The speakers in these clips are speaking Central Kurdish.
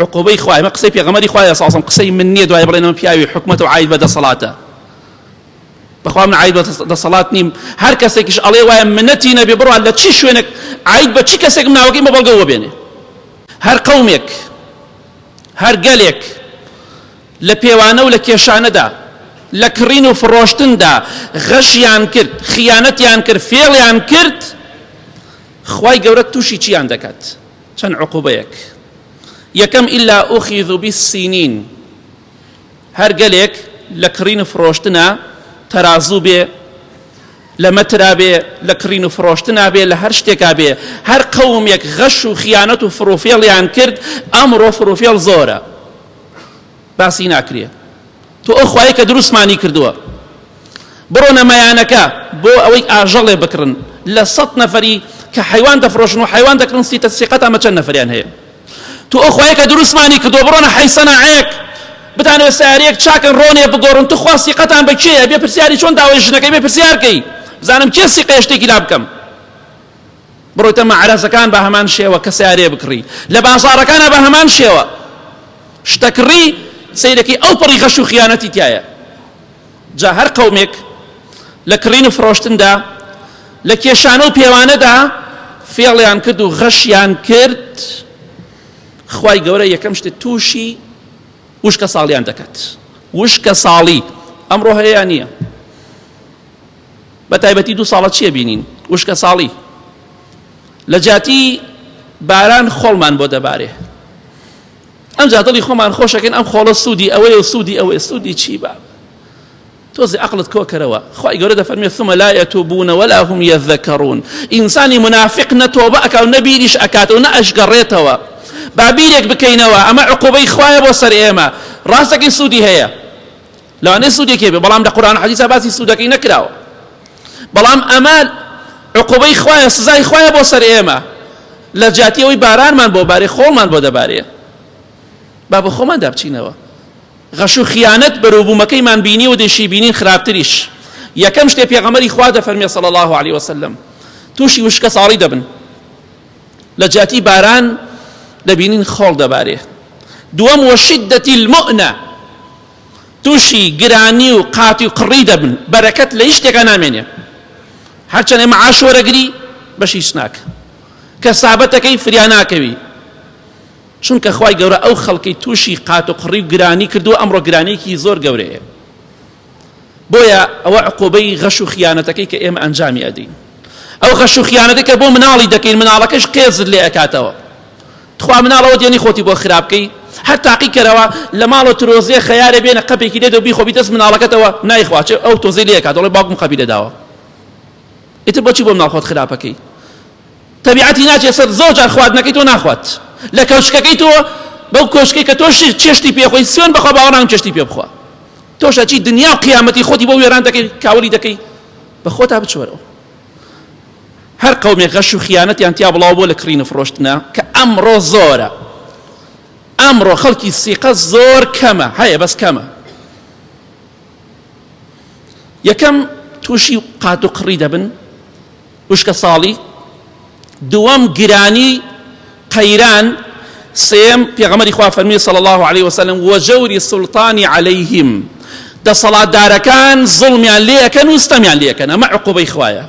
عقوبەی خوا ئەمە قسەی پێغەمەری خوایە ساسم قسەی من نییە دوای بڵێن ئەمە پیاوی حکومەت و عید بە دەسەڵاتە بەخوا من عید بە دەسەڵات نیم هەر کەسێکیش ئەڵێ وایە منەتی نەبێ بڕوا لە چی شوێنێک عید بە چی کەسێک مناوەکەی مەبەڵگەوە بێنێ هەر قەومێک هەر گەلێک لە پێوانە و لە کێشانەدا لە کڕین و فڕۆشتندا غەشیان کرد خیانەتیان کرد فێڵیان کرد خی گەورە تووشی چیان دەکات چەند عقوبەیەک یەکەم الا اخذو بالسینین هەر گەلێک لە کڕین و فڕۆشتنا تەرازوو بێ لە مەترا بێ لە کڕین و فڕۆشتنا بێ لە هەر شتێکا بێ هەر قەومێک غەش و خیانەت و فڕوفێڵیان کرد ئەمڕۆ فڕوفێڵ زۆرە باسی ناکرێ تۆ ئەو خوایەی کە دروستمانی کردووە. بڕۆنە مەیانەکە بۆ ئەوەی ئاژەڵێ بکڕن، لە سەد نەفەری کە حەیوان دەفڕۆشن و حەیوان دەکڕن سیتە سیقەت ئەمە چەند نەفەریان هەیە؟ تۆ ئەو خوایەی کە دروستمانی کردووە بڕۆنە حەی سەناعەیەک بتانەوێت سەیارەیەک چاکن ڕۆنێ بگۆڕن توخوا سیقەتان بە کێیە؟ بێ پرسیاری چۆن داوای ژنەکەی بێ پرسیار کەی بزانم کێ سیقەیە شتێکی لابکەم؟ بڕۆیتە مەعرەزەکان بە هەمان شێوە کە سیارێ بکڕی لە بازارەکانە بە هەمان شێوە شتەکڕی سیرەکەی ئەو پڕی غەش و خیانەتی تایە جا هەر قەومێک لە کڕین و فرۆشتندا لە کێشانە و پێوانەدا فێڵیان کرد و غەشیان کرد خی گەورە یەکەم شتە تووشی وشکە ساڵیان دەکات وشکە ساڵی ئەمڕۆ هەیە نییە بەتایبەتی دوو ساڵە چیە بینین وشکە ساڵی لە جاتی باران خۆڵمان بۆ دەبارێ ئەمجا دڵی خۆمان خۆشەکەن ئەم خۆڵە سوودی ئەوەیە و سوودی ئەوەیە سوودی چی بە تۆزی عقلت کۆکەرەوە خی گەورە دەفەرمێ ثمە لایە تۆ بوونە وەلا هم یەذەکەڕون ئینسانی منافق نەتۆبە ئەکاو نەبیریش ئەکاتەوە نە ئەشگەڕێتەوە بابیرێک بکەینەوە ئەمە عقوبەی خوایە بۆ سەر ئێمە ڕاستەکەی سوودی هەیە لەوانەیە سوودێکی هەبێ بەڵام لە قورئان و حەدیسا باسی سوودەکەی نەکراوە بەڵام ئەمە عقوبەی خوایە سزای خوایە بۆ سەر ئێمە لە جیاتی ئەوەی بارانمان بۆ بارێ خۆڵمان بۆ دەبارێ با بە خۆمان دابچینەوە غەش و خیانەت بەروبوومەکەیمان بینی و دەشی بینین خراپتریش یەکەم شتێ پێغەمەری خوا دەفەرمێ صلی الله عليه وسلم تووشی وشکە ساڵی دەبن لە جیاتی باران دەبینین خۆڵ دەبارێ دووەم وە شدەتی المؤنە توشی گرانی و قاتی و قڕی دەبن بەرەکەت لە هیچ شتێکا نامێنێ هەرچەند ئێمە عاش وەرەگری بەشی هیچ ناکە کەسابەتەکەی فریا ناکەوی چونکە خی گەورە ئەو خەڵکی تووشی قات و قڕی و گرانی کردووە ئەمڕۆ گرانێکی زۆر گەورەیە بۆیە ئەوە عقوبەی غەش و خیانەتەکەی کە ئێمە ئەنجامی ئەدەین ئەو غەش و خیانەتەکە بۆ مناڵی دەکەین مناڵەکەش قێزت لێ ئەکاتەوە تخوا مناڵ ئەوە دێنی خۆتی بۆ خراپ کەی هەر تاقی کەرەوە لە ماڵە ترۆزێ خەیارێ بێنە قەپێکی لێدە بیخۆ بیدەست مناڵەکەتەوە نایخوا چێ ئەو تۆزەی لێ کات دەڵێ باوکم قەپی لێداوە ئیتر بۆچی بۆ مناڵ خۆت خراپەکەی تەبیعەتی ناچێت سەر زۆر جار خواردنەکەی تۆ ناخوات لە کەوچکەکەی تۆ بەو کۆشکی کە تۆ چێشتی پێخۆی سوێن بەخوا باوەڕام چێشتی پێ بخوا تۆشە چی دنیا و قیامەتی خۆتی بۆ وێران دەکەی کاولی دەکەی بە خۆتا بچوەرەوە هەر قەومێک غەش و خیانەتیان تیا بڵاو بۆ لە کڕین و فڕۆشتنە کە ئەمڕۆ زۆرە ئەمڕۆ خەڵکی سیقە زۆر کەمە هەیە بەس کەمە یەکەم تووشی قات و قڕی دەبن وشکە ساڵی دووەم گرانی قەیران، سێیەم، پێغەمبەری خوا فەرمووی صلی اللە علیە وسلم، وجور السلطان علیهم، دەسەڵاتدارەکان زوڵمیان لێ ئەکەن و ستەمیان لێ ئەکەن، ئەمە عقوبەی خوایە،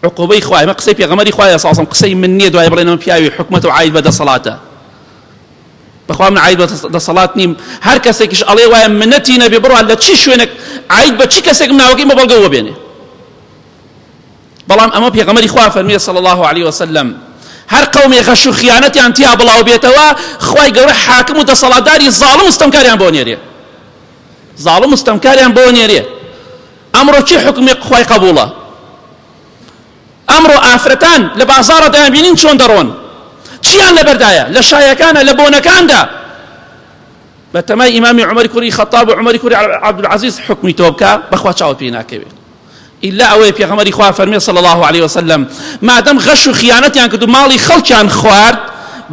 عقوبەی خوایە، ئەمە قسەی پێغەمبەری خوایە صلی اللە علیە وسلم، قسەی من نییە دوای بڵێن ئەمە پیاوی حکومەتە و عاید بە دەسەڵاتە، بەخوا من عاید بە دەسەڵات نیم، هەر کەسێکیش ئەڵێ وایە منەتی نەبێ، بڕوا لە چی شوێنێک عاید بە چی کەسێکم ناوەکەی بە بەڵگە وەبێنێ. بەڵام ئەمە پێغەمبەری خوا فەرموویە صلی اللە علیە وسلم هەر قەومێ غەش و خیانەتیان تیا بڵاو بێتەوە خوای گەورە حاکم و دەسەڵاتداری زاڵم و ستەمکاریان بۆ نێرێ زاڵم و ستەمکاریان بۆ نێرێ ئەمڕۆ چی حکومی خوای قبوڵە ئەمڕۆ ئافرەتان لە بازارە دەیان بینین چۆن دەڕۆن چیان لەبەردایە لە شایەکانە لە بۆنەکاندا بە تەمای ئیمامی عمەری کوری خەتاب و عمەری کوری عبدالعزیز حکمی تۆ بکە بەخوا چاوە پێی ناکەوێت ئیلا ئەوەی پێغەمبەری خوا فەرمی صلی الله علیه وسلم مادەم غەش و خیانەتیان کرد و ماڵی خەڵکیان خوارد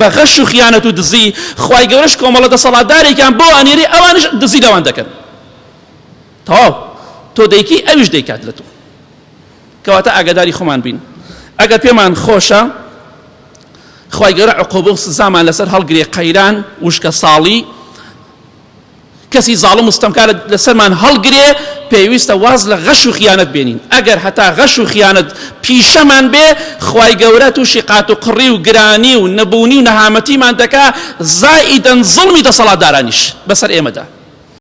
بە غەش و خیانەت و دزی خوای گەورەش کۆمەڵە دەسەڵاتدارێکیان بۆ ئەنێری ئەوانش دزی لەوان دەکەن تەواو تۆ دەیکی ئەویش دەیکات لە تۆ کەواتە ئاگاداری خۆمان بین ئەگەر پێمان خۆشە خوای گەورە عقوبە و سزامان لەسەر هەڵگرێ قەیران وشکە ساڵی کەسی زاڵم و ستەمکار لەسەرمان هەڵگرێ، پێویستە واز لە غەش و خیانەت بێنین، ئەگەر هەتا غەش و خیانەت پیشەمان بێ، خوای گەورە تووشی قاتوقڕی و گرانی و نەبوونی و نەهامەتیمان دەکا، زائیدەن زوڵمی دەسەڵاتدارانیش بەسەر ئێمەدا.